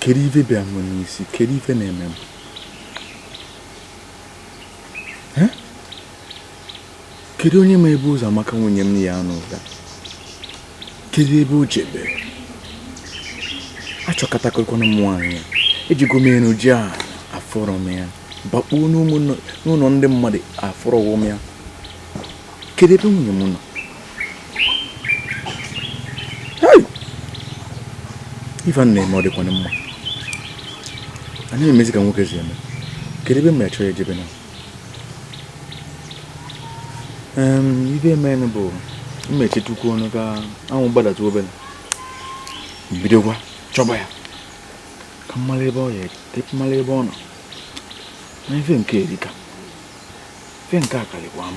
kedu ife bịa m n'isi kedu ife na-eme m kedu onye ma ebe ụzọ maka nwunye m ya anụ ụda kedu ebe o jebe achọkatagokwanụ m nwaanyị a ejego m enu jee ana afụrọ m ya bakpuo n'ụlọ ndị mmadụ afụrọ m ya kedu ebe nwunye m nọ ife na-eme ọ dịkwana mma anaghị m emezi ka nwoke si eme kedu ebe m achọ ya ejebe na ife emenụ bụ m mechitụkwa ọnụ ka anwụ gbadatụ obere bidokwa chọba ya ka m malụ ebe o je m malụ ebe ọ nọ na ife nke a erika ife nke a akarịkwa m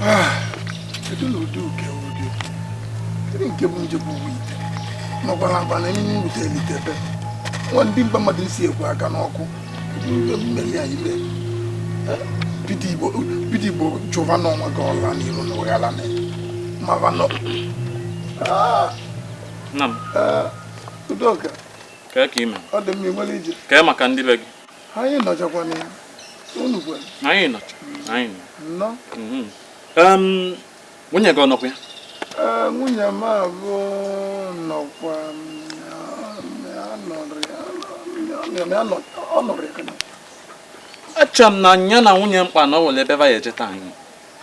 Ah, kedu na ụdị uke ụdị kedu nke bụ nje bụ uwe ite nọkwa na agba na enyi mbute elitebe nwa ndị mba mmadụ si ekwe aka n'ọkụ kedu ihe mmeri anyị mee Eh, bido igbo bido igbo chụva n'ọnwa gị ọla n'iru na ụghara na mava nọ Ah, nna m eh, udoka Kee ka i me. Ọ dị mma ịgbara ije. Kee maka ndị be gị. Anyị nọchakwa na ya. Unu kwanụ. Anyị nọcha. Anyị nọ. Nnọọ. Mhm. Nwunye gị ọ nọkwa ya? Nwunye m abụ nọkwa ọ nọrọ ya kana. Eche m na ya na nwunye m kpa na o nwere ebe va eje taa anyị.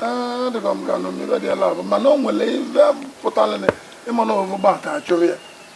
Ee, ọ dịka m ga-anọ m ife dị ya labụ mana o nwere ife pụtara ịma na ọvụgba ata achụrụ ya.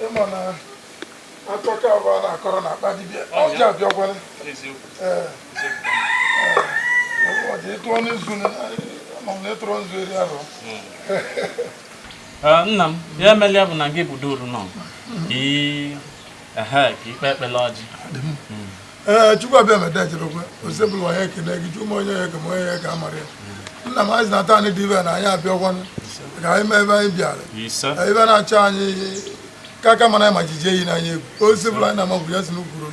ị ma na akụkọ abụọ na-akọrọ n'akpa dibịa ọjị abịakwala ị tụọ nzu na ị tụrụ nzu eri ahụ nna m ya emelia bụ na gị bụ duru nọ ee chukwu abịama echerekwe osebụlụwa anyị ekele gị chi ma onye ya eke ma onye ya eke amarọ ya nna m anyị na ata anyị dị ibe na anyị abịakwanụ ka anyị mee ebe anyị bịara ebe na-achọ anyị ka aka mana ma jijie yi n'anya egwu ozi bụla anyị na-ama bụ ya si n'ukwuru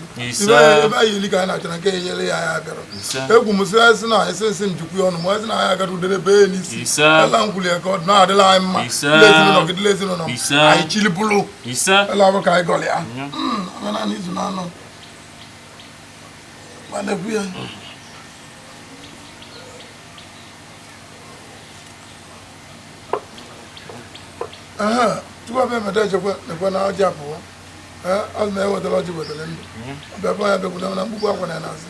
ebe anyị ili ka anyị na-achọrọ nke enyere ya ya bịara egwu m si esi na esi nsị m jikwu ya ọnụ ma esi na anyị agara udere be ya n'isi ala nkwuli ya ka ọ dị na-adịla anyị mma ndị ezinụlọ gị dịla ezinụlọ anyị chilibụlụ ise ụlọ ọrụ ka anyị gọrọ ya ọga naanị izu na anọ ma na-ekwu ya Aha, tupu abịa emeta echekwa nekwe na ọjị apụwa onye wetara ọjị wetara ndụ ọbịa bụ ya bịakwudo na mkpukpu apụna ya n'azụ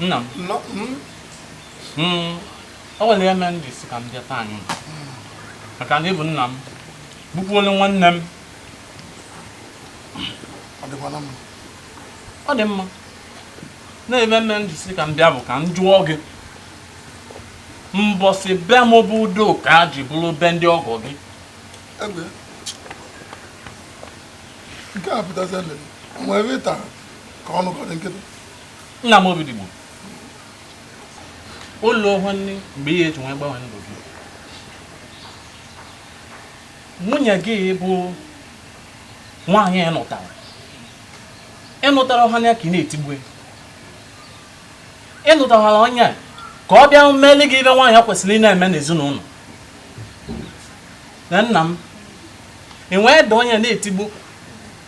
nna m hmm. o nwere ihe mere m ji sị ka m bịa taa anyị maka na ị bụ nna m bụkwuole nwanne m ọ dị mma na ihe mere m ji sị ka m bịa bụ ka m jụọ gị mbọsị be m bụ udo ka a ji bụrụ be ndị ọgọ gị nke a pụtazi nwere ịta ka ọ nọgọdị nkịtị nna m obi dịgbo ụlọ ohu nne mgbe ihe eji nwee gbanwe ndụ gị nwunye gị bụ nwaanyị ị nụtara ị nụtara ọha ya ka ị na-etigbu ị nụtawara onye a ka ọ bịa meli gị ive nwaanyị kwesịrị ị na-eme n'ezinụlọ na nna m ị nwee da onye na-etigbu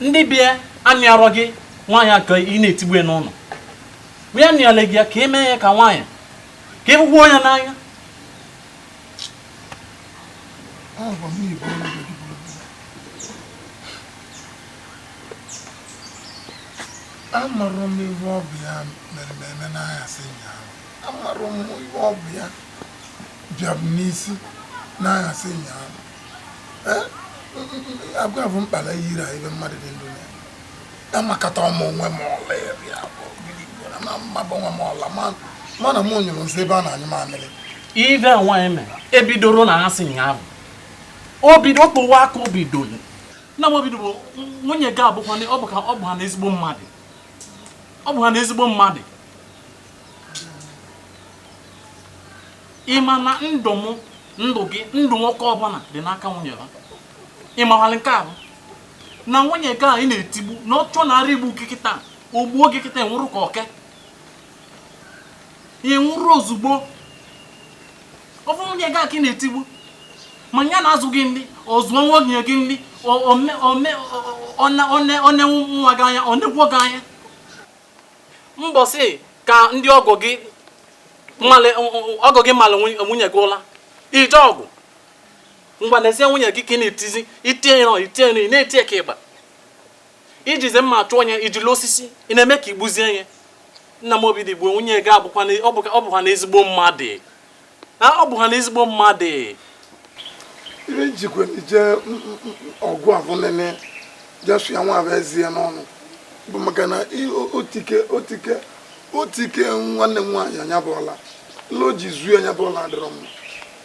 ndị bịa anụarọ gị nwaanyị a ka ị na-etigbu ya n'ụlọ bịa nụọla gị ya ka ị mee ya ka nwaanyị ka ị hụkwuo ya n'anya Agwa m na-ebu ọrụ gị Amarọ m ihe ọ bụ ya mere m eme n'anyasị ụnyaahụ. Amarọ m ihe ọ bụ ya bịa m n'isi n'anyasị ụnyaahụ. Eh, agwa bụ mkpala yiri a ebe mmadụ dị ndụ na ya. Amakata ọmụ onwe m ọla ya bịa bụ gịnị gwara ma mma bụ nwa m ọla ma ma na mụ nyụrụ nsị ebe a na-anyụ mamịrị. ive nwaanyị mere ebidoro n'anyasị ahụ o bido kpụwa aka o bidoro nna m obi bụ nwunye gị abụkwa ọ bụ ka ọ bụ ha na ezigbo mmadụ ọ bụ ha na ezigbo mmadụ ị ma na ndụ m ndụ gị ndụ nwoke ọbụla dị n'aka nwunye ya ị mawalị nke ahụ na nwunye gị a ị na-etigbu na ọ chọ na ara igbu gị kịta o gbuo gị kịta ị nwụrụ ka oke ị nwụrụ ozugbo ọ bụ nwunye gị a ka ị na-etigbu ma ya na-azụ gị nri ọ zụọ nwa oge gị nri o nee nwa gị anya o nekwuo gị anya mbọsị ka ndị ọgọ gị ọgọ gị mara nwunye gị ụla ị jee ọgụ ngwa n'ezie nwunye gị ka ị na-etizi itinye nọ itinye nọ ị na-eti ka ịgba ijizi mma chụọ onye ijili osisi ị na-eme ka i gbuzie ihe nna m obidigbo nwunye gị abụkwa na- ọ bụkwa ọ bụkwa na ezigbo mmadụ na ọ bụkwa na ezigbo mmadụ ibe njikwa ije ọgwụ avụ nene jesu ya nwa bụ ezie n'ọnụ bụ maka na i- o- otike otike otike nwanne m nwaanyị anya bụọla lo ji zuo anya bụọla adịrọ mma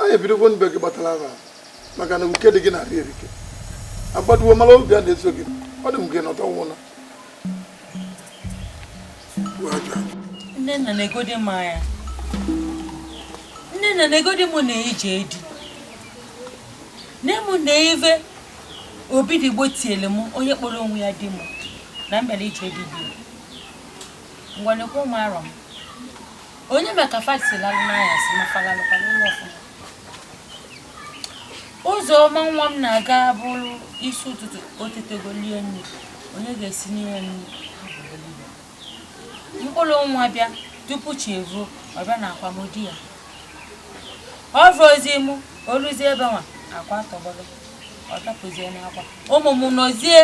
anyị ebidogo ọ bụ gị kpatara ya maka na nwoke di gị na-arị erike agbaduo mara obi a na-eso gị ọ dị m gị nọta nwụna nnenna negodi m anya nnenna negodi m n'ije di nne m nee ive obidigbo tiele m onye kpọrọ onwe ya di m na m bịara ije di di m ngwa nekwa mụ arụ m onye ma ka fa si lalụ n'anyasị ma fa lalụkwa ụla ọfụma ụzọma nwa m na-aga bụrụ isi ụtụtụ o tetego lie nri onye ga-esinye nri m kulu nwa bịa tupu chi evoo ọ bịa n'akwa mụ di ya ọ bụ ozi mụ o luzie ebe nwa akwa tọgbọrọ ọ bakwuzie n'akwa ụmụ m nọzie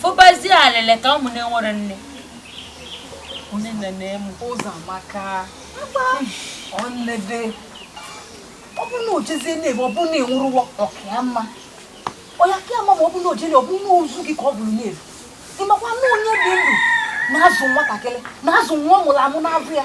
fụbazie alịlị ka ụmụ na-enwerọ nne onye nne na-emu ụzọamaka ọnede ọ bụ na o jezie na-ebe ọ bụ na ị nwụrụ anwụ ọ kaa mma ọ ya-aka mma ma ọ bụ na o jele ọ bụ na ozu gị ka ọ bụ na-evu ị makwa na onye dị ndụ na-azụ nwatakịrị na-azụ nwa ọ mụrụ amụ n'avọ ya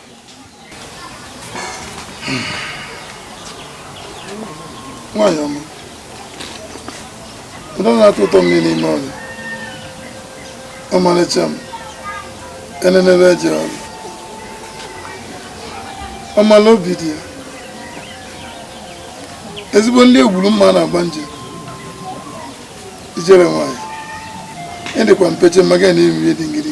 nwaanyị ọma ụdọ na-atọ ụtọ mmiri n'ime ọrịa ọmalịcha m enenebe eje ọrụ ọmala obi di ya ezigbo ndị egburu mma na-agba njem ijele nwaanyị ị dịkwa mpeche mmaga na eriri dị ngiri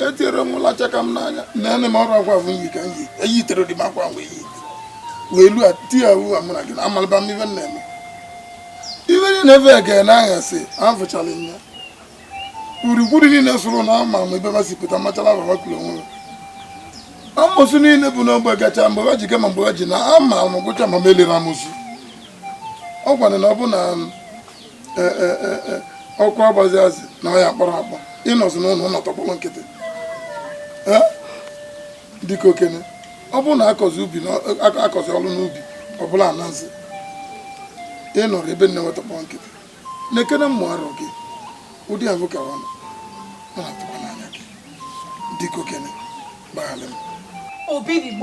etinyere m lacha ka m n'anya na-ene m ọrụ agwa m yi ka m yi eyi tere dị m akwa mgbe yi wee lu ati ya uwe mụ na gị na amalaba m ive m na-eme ive niile ebe ege na aghasị afụchala m ya gburugburu niile soro na ama m ebe masị pụta machala baba kwuru onwe amosu niile bụ n'ogbe gacha mgbe ha ji gama mgbe ha ji na ama m gụcha ma m elere amosu ọ gwara na ọ bụ na e, e, e, ọkwa agbazi azị na ọya kpọrọ akpọ ị nọzi n'ụlọ tọkpọrọ nkịtị dịka okenye ọ bụrụ na akọzi ubi akọzi ọrụ n'ubi ọ bụla anazi ị nọrọ ebe nne nwe tọkpọọ nkịtị nekene mụ arụ gị ụdị ahụ ka ọ na-atụkwa n'anya gị dịka okenye gbaghalụ m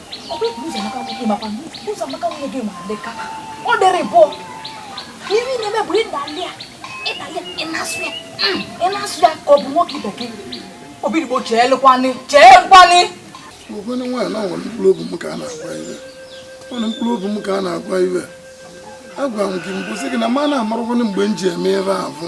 ọ dịrị bụ ihe na-eme bụ ịdali ya ịdali ya ịnasụ ya ịnasụ ya ka ọ bụ nwoke ibe gị obirigbo chee lụkwanị chee nkwanị okenye nwaanyị na nwere mkpụrụ obi m ka a na-agwa ihe nwere mkpụrụ obi m ka a na-agwa ihe agwara m gị mbụ sị gị na ma na-amarakwanụ mgbe m ji eme ebe ahụ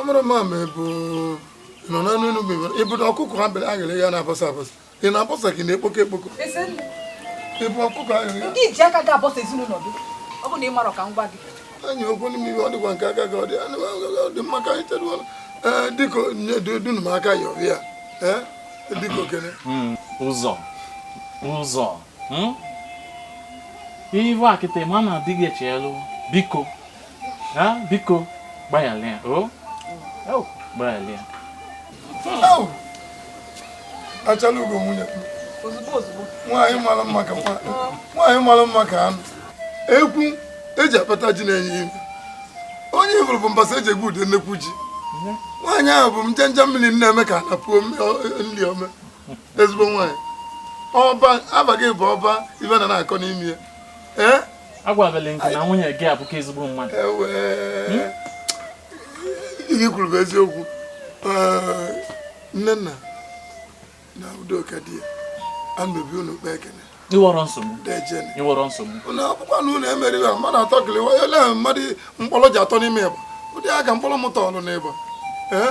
ọ mara ma ma ebe nọ na n'elu bụ ịbụta ọkụkọ ha bere aghịrị ya na-abọsa abọsa ị na-abọsa gị na-ekpokọ ekpokọ ị bụ ọkụkọ aghịrị ya ndị iji aka ga-abọsa ezinụlọ gị ọ bụ na ị marọ ka m gwa gị anyị okwu n'ime iwe ọ dịkwa nke aka gị ọ dị anụ ọ dị mma ka anyị teruo ee dịka dunu m aka ya ọbịa ee dịka okene ụzọ ụzọ hmm? ị bụ nkịta ma na adịghị eche elu biko biko gbayala ya o gbayala ya achala ugo nwunye nwaanyị mara mma ka nwaanyị mara mma ka anụ ekwu eji akpata ji na-enye ime onye ifuru bụ mbazụ eji egwute nnekwu ji nwaanyị ahụ bụ njenje mmiri na-eme ka na puo nri ome ezigbo nwaanyị ọba aba gị bụ ọba ife na na-akọ n'ime ya ee agwabele nke na nwunye gị abụka ezigbo mmadụ hmm? ihe i kwuru bụ eziokwu nnenna na udoka di ya anobi unu kpa ekene enwerọ nsogbu enwerọ nsogbu na akwụkwọ na unu emere ya mmadụ atọ kelewa ele mmadụ mkpụrụ ji atọ n'ime ọba ụdị aka mkpọrọ mụta ọlụ n'ọba ee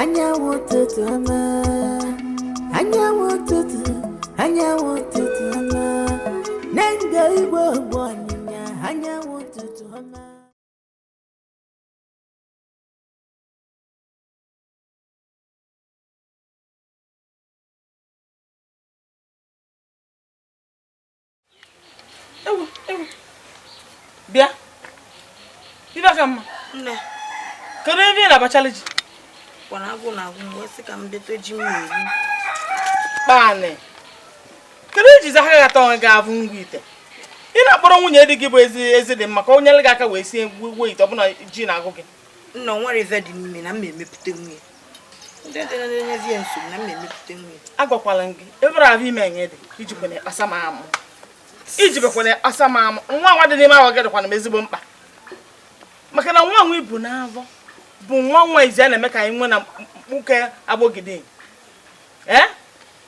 anyanwụ ụtụtụ ọma anyanwụ ụtụtụ anyanwụ ụtụtụ ọma na ndụ igbo bụ ọnyịnya anyanwụ ụtụtụ ọma bịa ibekamma kedu ife ị na-abachala ji kwara agụụ na-agụ m wee sị ka m bịata ji m ga-eri kpaanị kedu iji zahara gata onwe gị abụ ngwa ite ị na-akpọrọ nwunye di gị bụ ezidịmma ka o nyere gị aka wee sie gwuo ite ọ bụ na ji na-agụ gị nna nwere ife dị n'ime na m emepụta nwunye ndị dị na-enyezi ya nsogbu na m na-emepụta nri agwakwala gị ebere ahụ ime enye dị ijikwa na ịkpasa m amụ ijibekwa na ịkpasa m amụ nwa nwa dị n'ime ahụ gị dịkwanụ m ezigbo mkpa maka na nwa nwa i bu n'afọ bụ nwa nwa izizi a na-eme ka anyị nwee na mkpuke agbogidi ee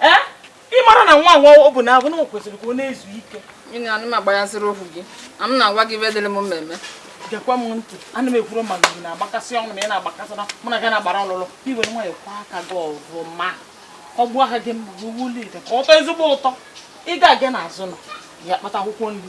ee ị mara na nwa nwa ọ bụ na abụ na o kwesịrị ka ọ na-ezu ike Gịnị anụ m agbanyaziri ohu gị na m na-agwa gị ife dịrị m mmemme gekwa m ntị ana m ekwuru ma gị na-agbakasị ọnụ ma ị na-agbakasị na mụ na gị na-agbara ọlụlụ i were nwayọ kwọ aka gị ọfụma ọ gbuo aka gị mma gị wuli ite ka ọ tọọ ezigbo ụtọ ị ga-aga n'azụ ụnọ ya kpata akwụkwọ nri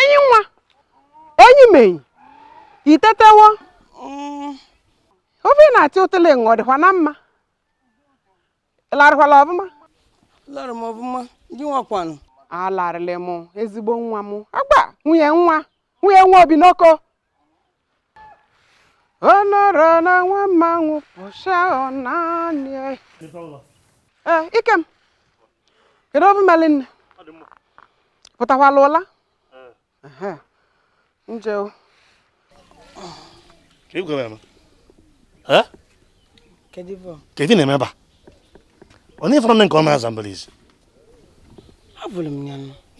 enyi nwa enyi m enyi i tetawo ofe ị na-atị ụtụle ṅụ ọ dịkwa na mma larịkwala ọfụma lara m ọfụma gị nwakwanụ alarịlị m ezigbo nwa m agba nwunye nwa nwunye nwa obi n'oko ọnọrọ na nwa mmanwụ pụsịa ọnanị ee Ikem kedu obi meli nne pụtakwala ụla nje o kedu ife ị na-eme ebe a onye ị fụrọ nne nke ọma aza mbara ezi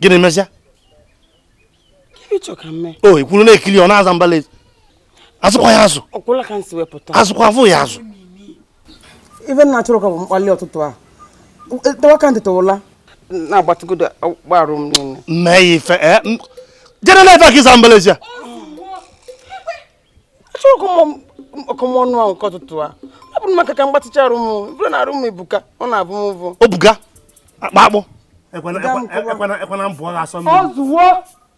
gịnị mezia o i kwụrụ na-ekiri ọ na-aza mbala ezi azụkwa ya azụ azụkwa afụ ya azụ ife nna chọrọ ka bụ mkpali ụtụtụ a tewa ka ntị tụwụla na-agbatịgodo arụ m niile mee ya ife eh, jere na-efe ka ịza mbala ezi a achọghị m ọkọm ọnụ ahụ nke ụtụtụ a ọ bụrụ maka ka m gbatịcha arụ m bụrụ na arụ m ebuka ọ na-abụ m ụvụ obuga akpa akpụ ekwana mbụ ọ ga-asọ mmiri o zuwo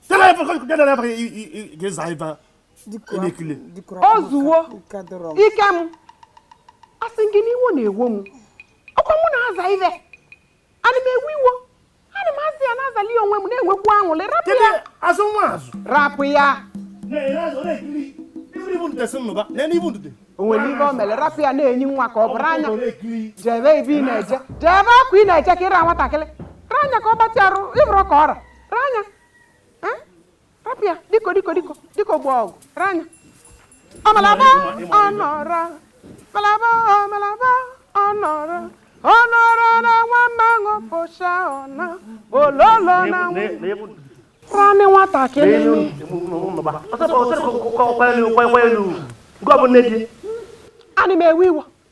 tena ebe ka gada na abaghị ga-aza ife elekile o zuwo Ikem asị gị n'iwo na-ewo m ọkwa mụ na-aza ife ana m ewe iwo ana m aza ya na-azali onwe m na-enwekwu anwụlị rapụ ya azụ nwa azụ rapụ ya o nwere ife o mere rapụ ya na-enyi nwa ka ọ bụrụ anya jebe ebe ị na-eje jebe akwa ị na-eje ka ị ra nwatakịrị ranya ka ọ gbatị arụ ị hụrụ ka ọ ra ranya Rapụ ya, diko diko diko diko gba ọgụ, ranya. Ọmalaba ọnọrọ, malaba ọmalaba ọnọrọ, ọnọrọ na nwa mmanwụ pụcha ọna, ololo na nwa. Rani nwatakịrị. Ana m ewe iwo.